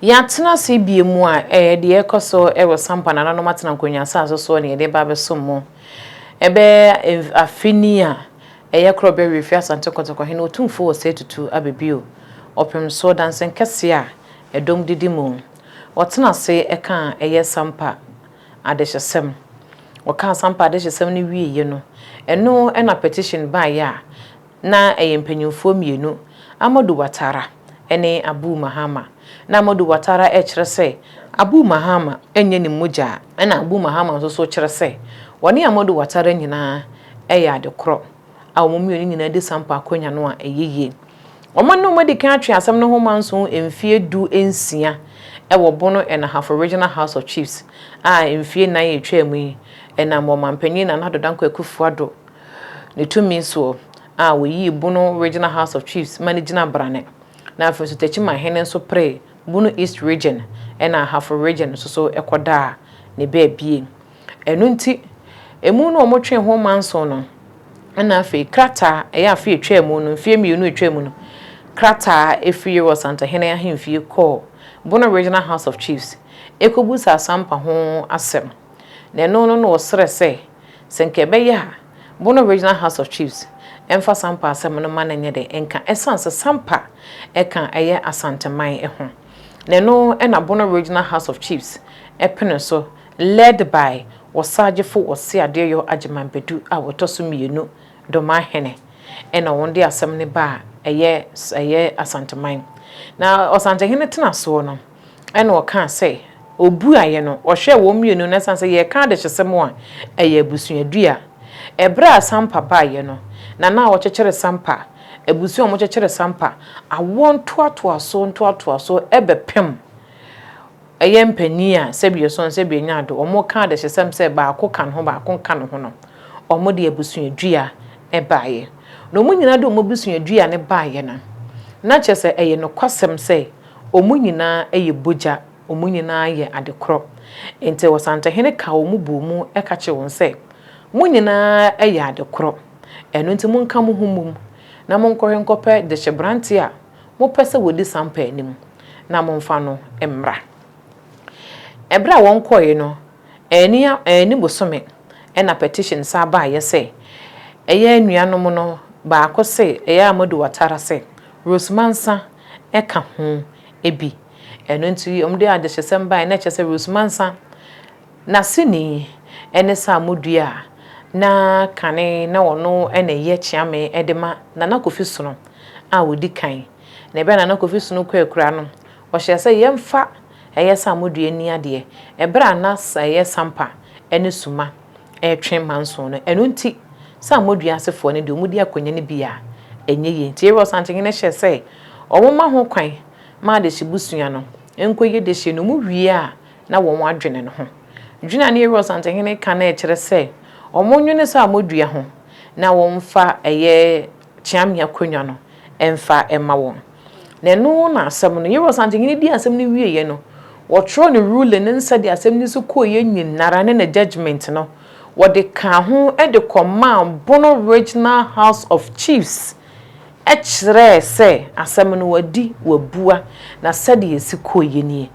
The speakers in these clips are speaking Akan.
Yɛatena ase bio mu a, ɛyɛ deɛ ɛrekɔ so wɔ Sampa nananom atena nkonnwa asase soɔ na yɛde reba abɛsom mo. Ɛbɛyɛ mf afe ni a ɛyɛ korɔ bɛwe efiri Asante Kotoko Hene Otumfoɔ Osei Tutu aba bio, ɔpemsoɔ dansen kɛseɛ a ɛdɔm didi mu. Ɔtena ase kaa ɛyɛ Sampa adehyesɛm. Ɔkaa Sampa adehyesɛm no wieeɛ no, ɛno na petition baeɛ a Ná ɛyɛ mpanimfoɔ mmienu, Ahmadu Watara ne Abu Mahama. Ná Ahmadu Watara rekyerɛ sɛ Abu Mahama nyɛ ne mogya, ɛnna Abu Mahama nso so rekyerɛ sɛ ɔne Ahmadu Watara nyinaa yɛ ade korɔ, a wɔn mmienu nyinaa di sampa akonnwa no a ɛyɛ yie. Wɔn ne wɔn adi kan atwe asɛm no ho manso mfeɛ du nsia wɔ Bono and Ahafo Regional House of Chiefs a mfeɛ nnan a ɛtwaam yi, ɛnam ɔmanpanin Nana Addo Dankwa Akufo-Addo, Ne tumi soɔ a ɔyii Bono Regional House of Chiefs ma no gyina brane, na afei nso Techiman hene nso peree Bono East Region ɛna Ahafo Region nso so kɔdaa ne baabie. Ɛno nti ɛmu no wɔtwee ho manson no ɛna afei krataa ɛyɛ afe a ɛtwaa mu no, mfeɛ mmienu a ɛtwaa mu no, krataa ɛfiri Yeru Asantehene ahemfie kɔɔ Bono Regional House of Chiefs ɛkɔbusaa Asampa ho asɛm. Na ɛno no na ɔsrɛ sɛ Sɛ nka ɛbɛyɛ a, Bono Regional House of Chiefs mfa Sampa asɛm no mma no nyɛ dɛ nka ɛsiane sɛ Sampa ka a ɛyɛ Asanteman ho, na ɛno na Bono Regional House of Chiefs pene so led by Ɔsagyefo Wɔse Adeɛyɔ Agyeman Badu a ɔtɔ so mmienu, Domaa Hene, ɛna wɔn de asɛm no ba a ɛyɛ Asanteman. Na Ɔsantehene tena soɔ no, Ɛnna ɔkaa sɛ, Obuaeɛ no, ɔhwɛɛ wɔn mmienu na ɛsiane sɛ yɛreka adehyesɛm a ɛyɛ abusuadua. Ɛberɛ a Sampa baeɛ no, na na wɔkyekyere Sampa, abusua a wɔkyekyere Sampa, awoɔ ntoatoasoɔ ntoatoasoɔ bɛpem. Ɛyɛ mpanin a sɛbi ɔsɔn sɛbi ɔnya ado, wɔreka adehyesɛm sɛ baako ka ne ho baako nka ne ho no, wɔde abusuadua baeɛ. Na wɔn nyinaa de wɔn abusuadua no baeɛ no, na kyerɛ sɛ ɛyɛ nokwasɛm sɛ, Wɔn nyinaa yɛ bogya, wɔn nyinaa yɛ ade korɔ. Enti ɔsantehene kaa wɔn bɔɔ mu ka kyerɛɛ wɔn sɛ, Mo nyinaa yɛ ade korɔ, ɛno nti monka mo ho mmom, na monkɔhwɛ nkɔpɛ dehyeberanteɛ a mopɛ sɛ wɔdi sampaa no mu, na momfa no mmra. Ɛberɛ a wɔkɔeɛ no, anni anni bosome na petition san baeɛ sɛ, Ɛyɛ anuanom no baako se, Ɛyɛ a moadi wɔatara sɛ Rose Mansa ka ho bi. Ɛno nti wɔde adehyesɛm baeɛ, na ɛkyerɛ sɛ Rose Mansa n'aseni ne Saamo Dua a na kane na ɔno na ɛyɛ kyeame de ma Nana Kofi Sono a ɔdi kan. Na ɛberɛ a Nana Kofi Sono kɔ akura no, ɔhyɛɛ sɛ yɛmfa ɛyɛ Saamo Dua nni adeɛ, ɛberɛ a na ɛyɛ Sampa ne Suma. retwe mma nson no. Ɛno nti, Samuadua asefoɔ no deɛ wɔdi akonnwa no bi a, ɛnyɛ yie. Enti Arel Santenhene hyɛɛ sɛ wɔmma ho kwan ma adehye busua no nkɔyi adehye no, wɔwie a na wɔn adwene no ho. Dwene a na Arel Santenhene reka no rekyerɛ sɛ wɔnnwene Samuadua ho na wɔmfa ɛyɛ Kyeamye akonnwa no mfa mma wɔn. Na ɛno na asɛm no. Yeros anhyenyene dii asɛm no wieeɛ no, wɔtwerɛɛ ne ruling ne nsɛdeɛ asɛm no si kɔeɛ nyinara ne ne judgement no, wɔde kaa ho de kɔmaa Bono Regional House of Chiefs kyerɛɛ sɛ asɛm no wɔadi, wɔabua, na sɛdeɛ ɛsi kɔeɛ nie.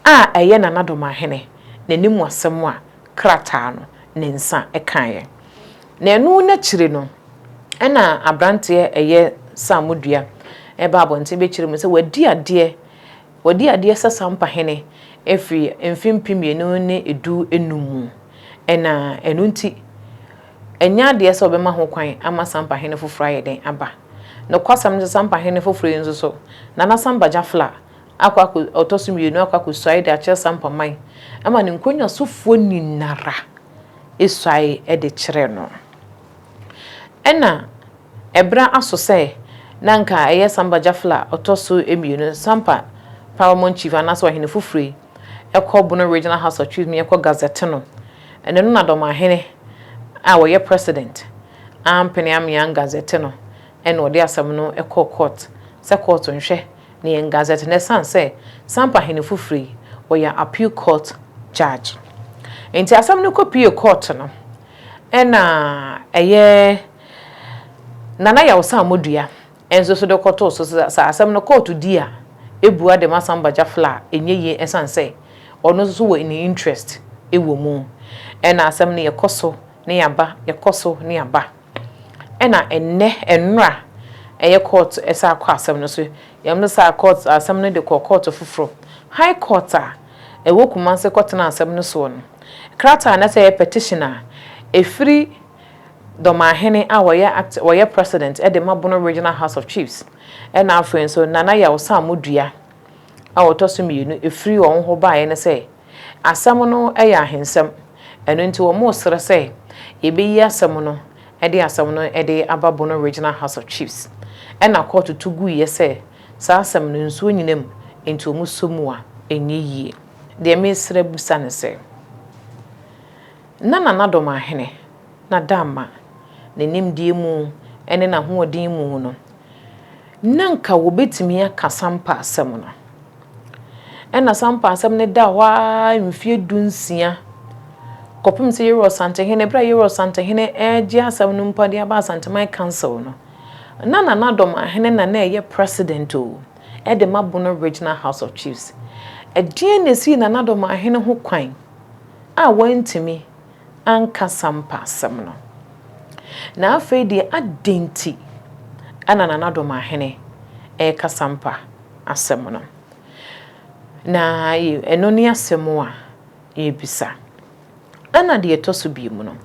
A ɛyɛ Nana Domaahene n'animuasɛm a krataa no ne nsa kaeɛ. Na ɛno no akyiri no, ɛna aberanteɛ ɛyɛ Saamudua ɛba abɔnten bɛkyerɛ mu sɛ wadi adeɛ, wadi adeɛ sɛ Sampa hene ɛfiri mfe mpem mmienu ne du nnum mu. Ɛna ɛno nti, ɛnyɛ adeɛ sɛ wɔbɛma ho kwan ama Sampa hene foforɔ ayɛ dɛn aba. Nokwasɛm ne sɛ Sampa hene foforɔ yi nso so, Nana Sampa Jafla akɔ akɔ ɔtɔ so mmienu akɔ akɔsuae de akyerɛ Sampa man ma ne nkonnwasofoɔ nyinara suae de kyerɛ no. Ɛna ɛberɛ aso sɛ na nka ɛyɛ Samba Jafla ɔtɔ so mmienu, Sampa Paramount Chief anaasɛ ɔhene foforɔ yi kɔ Bono Regional House of Chiefs mu yɛkɔ gazette no. Ɛno no na Dɔmahene a ɔyɛ President ampene amean gazette no ɛna ɔde asɛm no kɔɔ court sɛ court nhwɛ Ne yɛn Gazette no ɛsan sɛ Sampa hene foforo yi ɔyɛ Appeal Court Judge nti asɛm no kɔ pue Court no ɛna ɛyɛ Nana Yawsa Amodua nso so de kɔtoo so sɛ sɛ asɛm no Court di a ɛbua de ma Samba Jafla a ɛnyɛ yie ɛsan sɛ ɔno nso so wɔ ne interest wɔ mu ɛna asɛm no yɛkɔ so ne yɛaba yɛkɔ so ne yɛaba. Ɛna ɛnnɛ ɛnora ɛyɛ court ɛsan kɔ asɛm no so yɛn mo saa court asɛm no de kɔ court foforɔ high court a ɛwɔ kumase kɔ tena asɛm no soɔ no krataa na sɛ ɛyɛ petition a ɛfiri dɔmahene a wɔyɛ act wɔyɛ president ɛde ma bono regional house of chiefs ɛna afei nso nana yaw samu dua a ɔtɔ so mmienu firi wɔn hɔ baeɛ ne sɛ, asɛm no yɛ ahensɛm, ɛno nti wɔresrɛ sɛ yɛbɛyi asɛm no de asɛm no de aba Bono Regional House of Chiefs. Ɛna kɔɔto to guiɛ sɛ saa asɛm no nsuo nyina mu, nti wɔsɔ mu a ɛnyɛ yie. Deɛ meresrɛ bisa ne sɛ, na Nana Dɔm Ahene na da ma ne nimdeɛ mu ne n'ahoɔden mu no, na anka wɔbɛtumi aka sampa asɛm no. Ɛnna sampa asɛm no daa hɔ ara mfeɛ dunsia, kɔpem sɛ Yerua Santehene, berɛ a Yerua Santehene regye asɛm no mpo de aba Asanteman Council no, na Nana Domahene na na ɛyɛ President o, de ma Bono Regional House of Chiefs. Ɛdeɛn na ɛsii Nana Domahene ho kwan a wantumi anka Sampa asɛm no. Na afei deɛ adɛn nti na Nana Domahene reka Sampa asɛm no? Na ɛno ne asɛm a yɛrebisa. Ɛna deɛ ɛtɔ so biom no,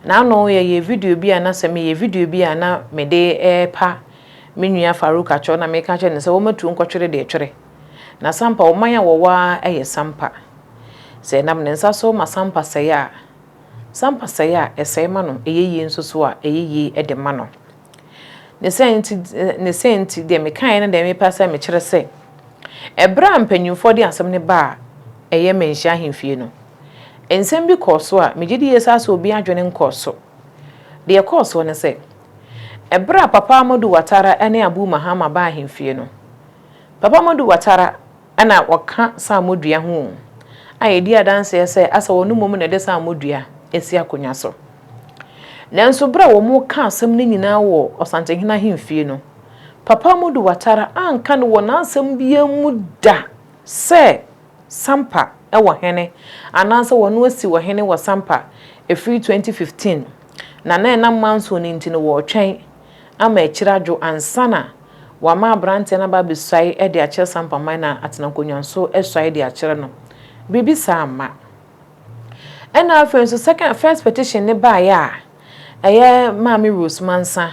na ano yɛyɛ video bi a na sɛ meyɛ video bi a na mede repa me nua Farouk Atwor na meka kyerɛ no sɛ wɔmatu nkɔtwere deɛ ɛtwere. Na Sampa ɔman a wɔwɔ ara yɛ Sampa. Sɛ ɛnam ne nsa so ma Sampa sɛe a, Sampa sɛe a, ɛsɛe ma no, ɛyɛ yie nso so a, ɛyɛ yie de ma no. Ne saa nti, ne saa nti, deɛ mekaeɛ ne deɛ mepɛ sɛ mekyerɛ sɛ, ɛberɛ a mpanimfoɔ de asɛm no baa ɛyɛ Manhyia ahemfie no, nsɛm bi kɔɔ so a megye di yie saa sɛ obiara adwene nkɔɔ so. Deɛ ɛkɔɔ soɔ ne sɛ, ɛberɛ a Papa Amadou Ouattara ne Abou Mahama baa ahemfie no, Papa Madu Watara na ɔka saamɔ dua ho o, a yɛdi adanseɛ sɛ asɛ ɔno mmom na ɛde saamɔ dua asi akonnwa so. Nanso berɛ a wɔreka asɛm no nyinaa wɔ Ɔsantenhene ahemfie no, Papa Madu Watara anka no wɔ n'asɛm biara mu da sɛ Sampa wɔ hene anaasɛ wɔno asi ɔhene wɔ Sampa ɛfiri 2015 na na ɛnam Manso no nti no wɔretwɛn ama akyiri adwo ansa na Wɔama aberanteɛ no aba abɛsuae de akyerɛ Sampaman na atena nkonnwa nso asuae de akyerɛ no. Biribi saa amma. Ɛna afei nso second, first petition no baeɛ a, ɛyɛ Maame Rose Mansa,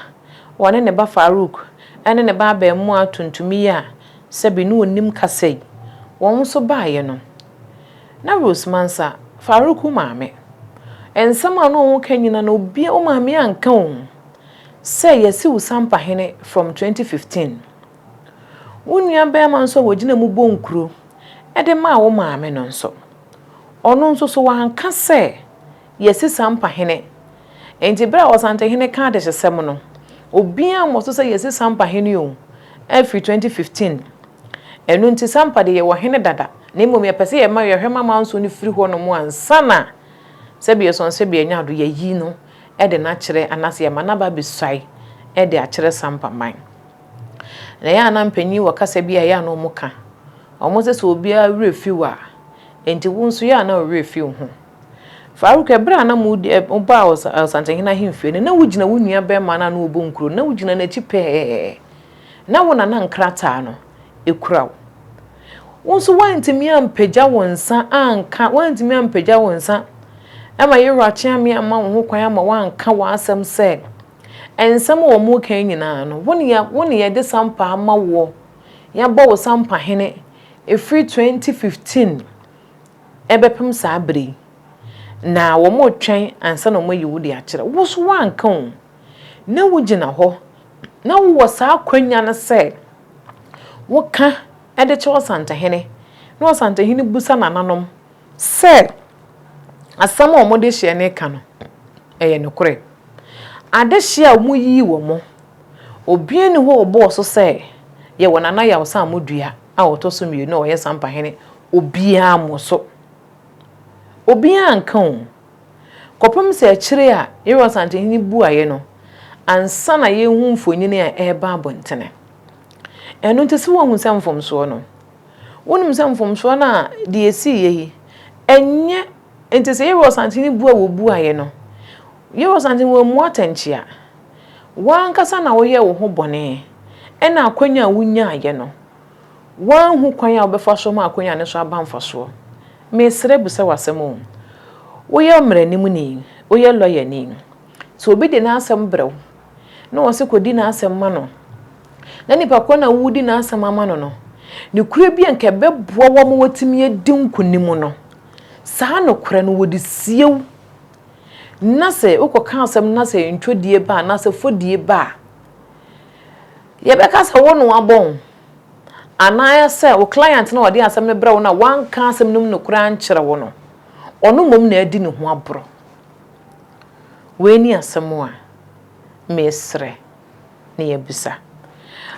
wɔne ne ba Farouk ne ne ba abarimaa tuntum yi a sɛbe ne ɔnim kasa yi, wɔn nso baeɛ no, na Rose Mansa, Farouk wo maame, nsɛm a na wɔka nyina no, obi, wo maame anka o. Sɛ yɛse wo sampahene from twenty fifteen. Wo nua barima nso a wɔgyina mu bɔ nkuro de maa wo maame no nso, ɔno nso so wanka sɛ yɛse sampahene. Nti berɛ a Ɔsantehene ka adehyesɛm no, obiara mmɔ so sɛ yɛse sampahene o, afiri twenty fifteen. Ɛno nti sampa deɛ yɛwɔ hene dada, na mmom yɛpɛ sɛ yɛma yɛhwɛ ma amansuo no firi hɔnom ansa na sɛbi yɛsɔn sɛbi yɛanya ado, yɛayi no de no akyerɛ anaasɛ yɛma no aba abɛsuae de akyerɛ sampaman. Na ɛyɛ a na mpanyin wɔ kasa bi a ɛyɛ a na wɔka. Wɔse sɛ obiara werɛ fi wo a, enti wo nso yɛ a na wo werɛ fi wo ho. Farouk, bere a na mobaa Ɔsantehene ahemfie no, na wugyina wo nuabarima no a na wɔbɔ nkuro no, na wugyina n'akyi pɛɛ. Na wo na na nkrataa no kura wo. Wo nso woantumi ampagya wo nsa anka, woantumi ampagya wo nsa ma Yewura Kyeame amma wo ho kwan ama woanka w'asɛm sɛ nsɛm a wɔn reka yi nyinaa no, wo ne wo ne yɛde sampa ama woɔ, yɛabɔ wo sampahene ɛfiri 2015 ɛbɛpem saa berɛ yi, na wɔretwɛn ansa na wɔayi wo de akyerɛ. Wo nso woanka o. na wogyina hɔ na wowɔ saa akwanya no sɛ woka de kyerɛ Ɔsantehene na Ɔsantehene busa nananom sɛ asɛm a wɔde hyeɛ no reka no ɛyɛ nokorɛ. Adehyeɛ a wɔyii wɔn, obiara nni hɔ a ɔbɔɔ so sɛ yɛwɔ Nana Yawsa Amodua a ɔtɔ so mmienu a ɔyɛ Sampahene obiara mmɔ so. Obiara anka o. Kɔpem sɛ akyire a yɛyɛ Ɔsantehene buaeɛ no ansa na yɛhu mfonini a ɛreba abɔntene. Ɛno nti sɛ woahu sɛ mfomsoɔ no, wonim sɛ mfomsoɔ no a deɛ ɛsiiɛ yi, ɛnyɛ nti sɛ yɛyɛ Ɔsantehene bua wo buaeɛ no, yɛyɛ Ɔsantehene wammua atɛnkyea. W'ankasa na woyɛɛ wo ho bɔne ɛna akwanya a wonyaaeɛ no Woanhu kwan a wobɛfa so ama akwanya no so aba mfasoɔ. Mesrɛ bisa w'asɛm o. Woyɛ mmaranimni, woyɛ lɔyani. Sɛ obi de n'asɛm brɛ wo na ɔse kɔdi n'asɛm ma no, na nipa korɔ no a woredi n'asɛm ama no no, nokorɛ bi a nka ɛbɛboa wo ama woatumi adi nkonim no, saa nokorɛ no wɔde sie wo. Na sɛ wokɔka asɛm no na sɛ ntwɔdie ba anaasɛ fɔdie ba a, Yɛbɛka sɛ wo na wɔabɔ wo, anaasɛ wo client no a ɔde asɛm no brɛ wo no a wanka asɛm no mu nokorɛ ankyerɛ wo no, ɔno mmom na adi ne ho aborɔ. Wei ne asɛm a mesrɛ na yɛabisa.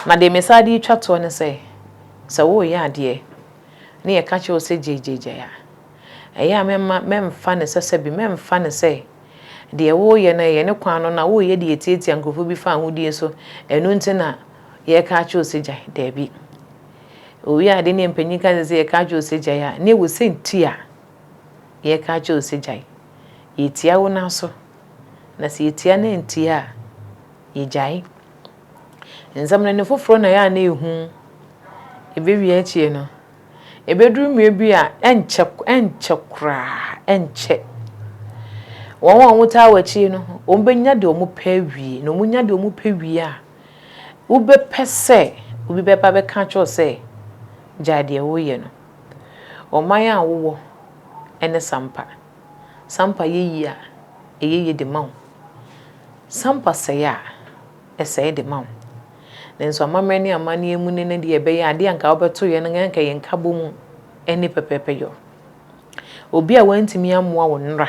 Na deɛ mesan de retwa toɔ ne sɛ, sɛ woreyɛ adeɛ na yɛka kyerɛ wo sɛ gyae gyae gyae a, ɛyɛ a mɛmma, mɛmfa no sɛ sɛbe, mɛmfa no sɛ Deɛ woreyɛ no, ɛyɛ ne kwan no na woreyɛ de atiatia nkurɔfoɔ bi fa ahodie so, ɛno nti na yɛreka akyerɛ wo sɛ gyae? Daabi. Owie ade ne mpanyin ka sɛ yɛka akyerɛ wo sɛ gyae a, na ɛwɔ sɛ nti a yɛreka akyerɛ wo sɛ gyae. Yɛtia wo nan so, na sɛ yɛtia na antie a, yɛgyae. Nsamanani foforɔ na ɛyɛ a na ɛhu. Ɛbɛwie akyire no, Ebeduru mmere bi a, ɛnkyɛ, ɛnkyɛ koraa, ɛnkyɛ, wɔn a wɔtaa w'akyi no, wɔbenya deɛ wɔpɛ awie, na wɔnya deɛ wɔpɛ wie a, wobɛpɛ sɛ obi bɛba abɛka akyerɛ wo sɛ, Gyae deɛ woreyɛ no. Ɔman a wowɔ ne Sampa. Sampa yɛ yie a, ɛyɛ yie de ma wo. Sampa sɛe a, sɛe de ma wo. Nanso amammerɛ ne amanneɛ mu nnɛ no deɛ, ɛbɛyɛ adeɛ a anka wobɛto yɛn no, anka yɛn nkabom nni pɛpɛɛpɛ yɔ. Obi a wantumi ammoa wo nnora,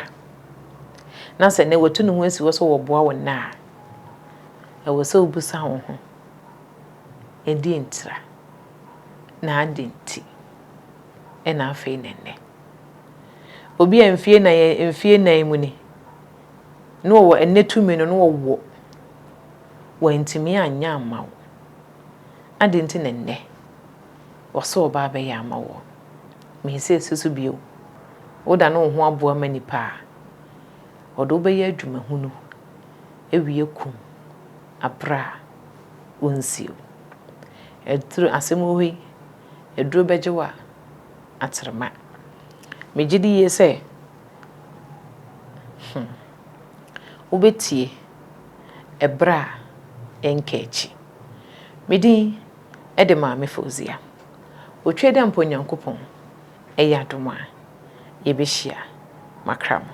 na sɛ nnɛ watu ne ho asi hɔ sɛ ɔreboa wo nnɛ a, ɛwɔ sɛ wobisa wo ho, Ɛdeɛn ntira? Na adɛn nti? Ɛna afei na nnɛ. Obi a mfie nnan, mfie nnan mu ni, na wɔwɔ ɛnnɛ tumi no na wɔwɔ, wɔantumi anyɛ amma wo. Adɛn nti na ɛnnɛ wɔse wɔba abɛyɛ ama wo? Me sɛ si so bio, wodane wo ho aboa ma nnipa a, wɔde wo bɛyɛ adwuma hunu, awie kum, abrɛ a, wonsie wo. Aduru, asɛm wɔ hɔ yi, aduro bɛgye wo a, atrema. Megye di yie sɛ Hmm. Wobɛtie ɛberɛ a ɛnka akyi. Me din de Maame Fauzia. Otwa dɛ mpo Nyankopɔn ɛyɛ adom a, yɛbɛhyia. Makra mo.